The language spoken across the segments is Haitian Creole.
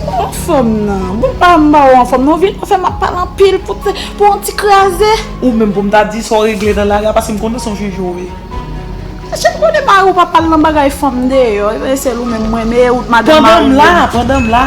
Anfòm nan, bon pa m ba ou anfòm nan, ou vin nan fè m ap pale anpil pou te, pou yon ti kraze. Ou menm pou m ta di sa w regle nan lari a paske m konnen sa w jwenn jwenn wi. Mesye m konnen mari w pa pale nan bagay fanm deyò, e ben sèl ou menm m renmen e ou t madanm mari m. Pandan m la, pandan m la.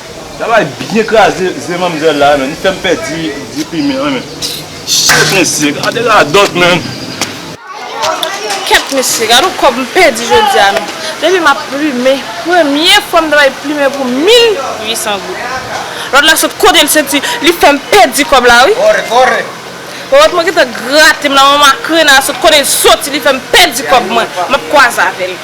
Travay byen kraze ze manmzèl la man, li fèm pèdi ze krime an man. Shit mesye gade radòt man. Kèt mesye gad on kòb m pèdi jodia man. Depi map plume premye fwa m ta bay plumen pou 1800 goud. Lòt la sot kote l soti li fèm pèdi kòb la wi. Kore kore. Ròt mwen gentan grate m la man makrena sot kote l soti li fèm pèdi kòb mwen. Map kwaze avèl.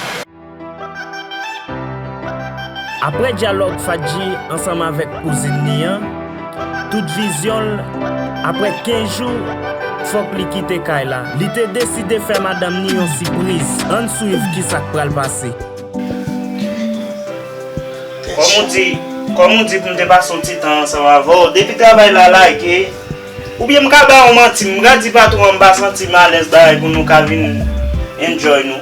Aprè dyalòg Fadji ansanm avèk kouzin li an, tout vizyon l, aprè 15 jou, fòk li kite kay la. Li te deside fè madanm ni yon sipriz. Ann swiv kisa k pral pase. Kòm ou di Kòm ou di pou m te pase yon ti tan ansanm avè w, depi travay la lage, oubyen m ka ba ou manti, m ka di patwon an m pa santi m alèz bagay pou nou ka vin enjoy nou.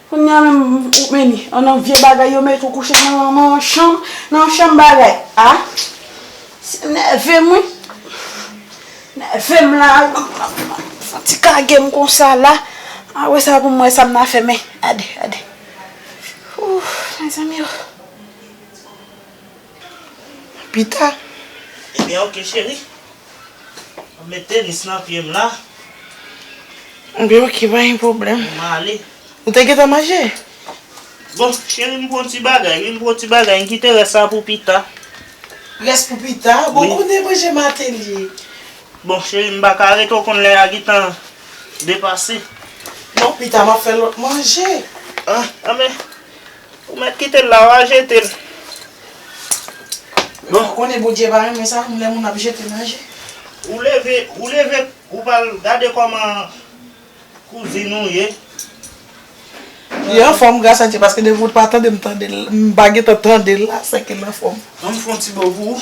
Kounye a menm ou menm an nan vye bagay yo met ou kouche nan nan chanm nan chanm bagay a se nève m wi nève m la a fon ti kage m konsa la a wè sa pou m wè sa m nan fè men gade gade ooh mezanmi ooh. pita. Ebyen ok cheri. Map met tenis nan pyem la. Ebyen ok pa gen pwoblèm. Mwen ale. Ou te gentan manje? Bon cheri m pran ti bagay wi m pran ti bagay m kite rès la pou pita. Rès pou pita? Bon konnen manje maten ye. Bon cheri m pa ka rete ou konn lè a gentan depase. Non pita map fè lòt manje. An men Ou met kitel la wa jetel. Bon ou konnen bondye pa renmen sa lè moun ap jete manje. Ou leve ou leve ou pral gade koman kouzin ou ye. Li anfom gras a Dye paske depi ou t pa tandem tandel m pa gentan tandel la seke l anfom. Anm fon ti bo pou ou.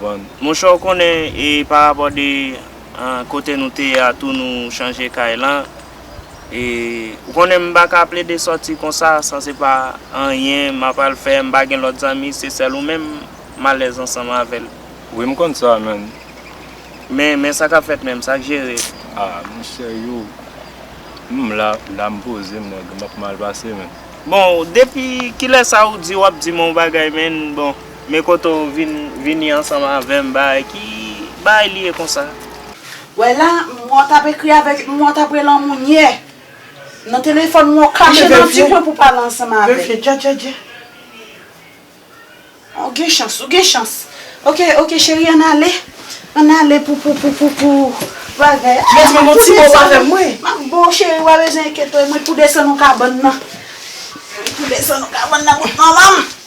vann. Monchè ou konnen e pa rapò de kote nou te ye a tou nou chanje kay lan e ou konnen m pa ka plede sòti konsa san se pa anyen m ap al fè m pa gen lòt zanmi se sèl ou menm m alèz ansanm avè l. Wi m konn sa menn. Men men sa k ap fèt menm sa k jere. A m serye w m la la m poze m nèg m ap mal pase menn. Bon depi kilè sa ou di w ap di m on bagay menn bon. Men kote w vin vini ansanm avè m baay ki baay li ye konsa. Wè la mwen w tap ekri avèk mwen w tap rele anmou nye nan telefòn mwen w kache nan ti kwen pou w pale ansanm avè m. Verifye djadjadja. Ou gen chans ou gen chans. Ok ok cheri ann ale ann ale pou pou pou pou pou bagay a. Mèt mwen m ti bo w pa fè m ri. M ap bo w cheri pa bezwen enkyete w mwen tou desann ou kabann nan mwen tou desann ou kabann nan bout manman m.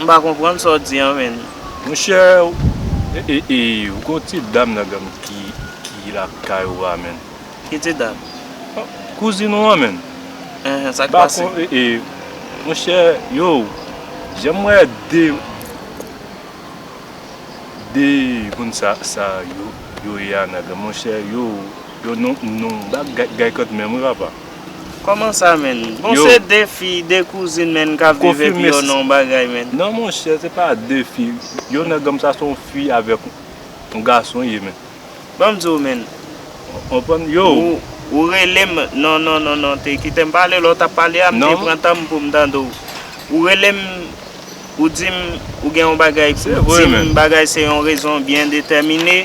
M pa konprann sa w di an menn. Monchè ou gen yon ti dam nan genm ki lakay ou a menn. Ki ti dam? Kouzin ou an menn. Enhen sa k pase? Monchè yow jan m wè 2 moun sa yo ye a nan genm monchè yow yo nou bagay kant menm wi papa. Koman sa menn? Bon se 2 fi, 2 kouzin menn kap viv epi yo nan yon bagay menn. Non monchè se pa 2 fi, yon nèg anm sa se yon fi avèk yon gason li ye menn. Banm diw menn. Ou konprann yow. Ou relem, non non non non te kitem pale lè w tap pale a m te pran tan m poum tande w. Ou relem ou dim ou gen yon bagay pou dim bagay se yon rezon byen detèmine.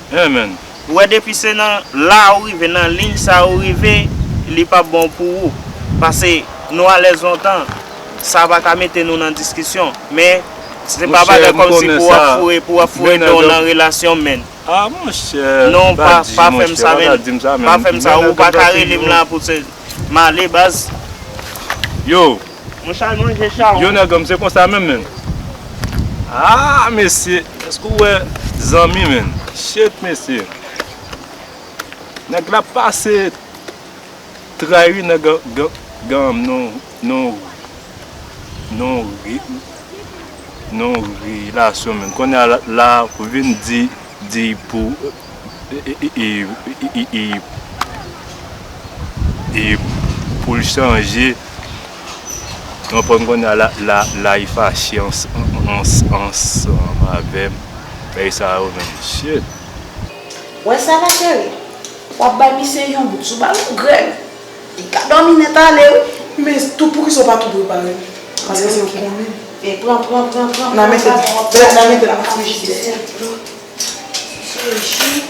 Amen. Ou wè depi se nan la ou rive nan ligne sa ou rive li pap bon pou ou pase nou alèz lontan sa pa ka mete nou nan diskisyon men se pa bagay kòmsi pou wap foure pou wap foure menw nan relasyon menn non pa pa fèm sa menn pa fèm sa ou pa ka relem la pou se male baz. Yo. Mwen chal manje chawony. Yo nèg anm se konsa menm menn. Aah mesye eske ou wè zanmi menn. Shit mesye. Nèg la pase tray wi nèg anm non non non relasyon menn konnya la vin di pou e poul chanje konprann konnya la li fache ansanm avèm bagay sa yo menm shit. Wè sa la cheri, wap bay misye yon bout sou bal ou grèl, li ka dòmi nèt ale wi. Men tou poukisa ou pa tou prepare l paske se yon konbit. E pran pran pran pran pran nan metel nan frijidè. Sou ji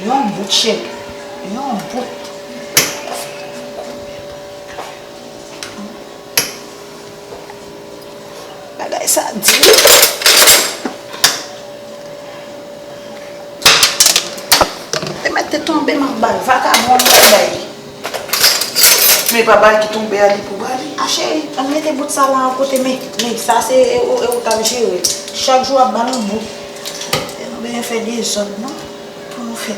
yon bout cheri. Yon bout. Bagay sa di wi. Te mèt te tonbe m ap ba l vakabon an m ap bay li. Men papa ki tonbe a li pou ba li. A cheri ann mete bout sa lan kote men. Men sa se e ou kap jere. Chak jou wap ba nou bout. E nou bezwen fè dezòd non. Pou nou fè.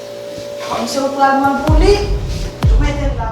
Kom se ou pral vann pou li, tou metel la.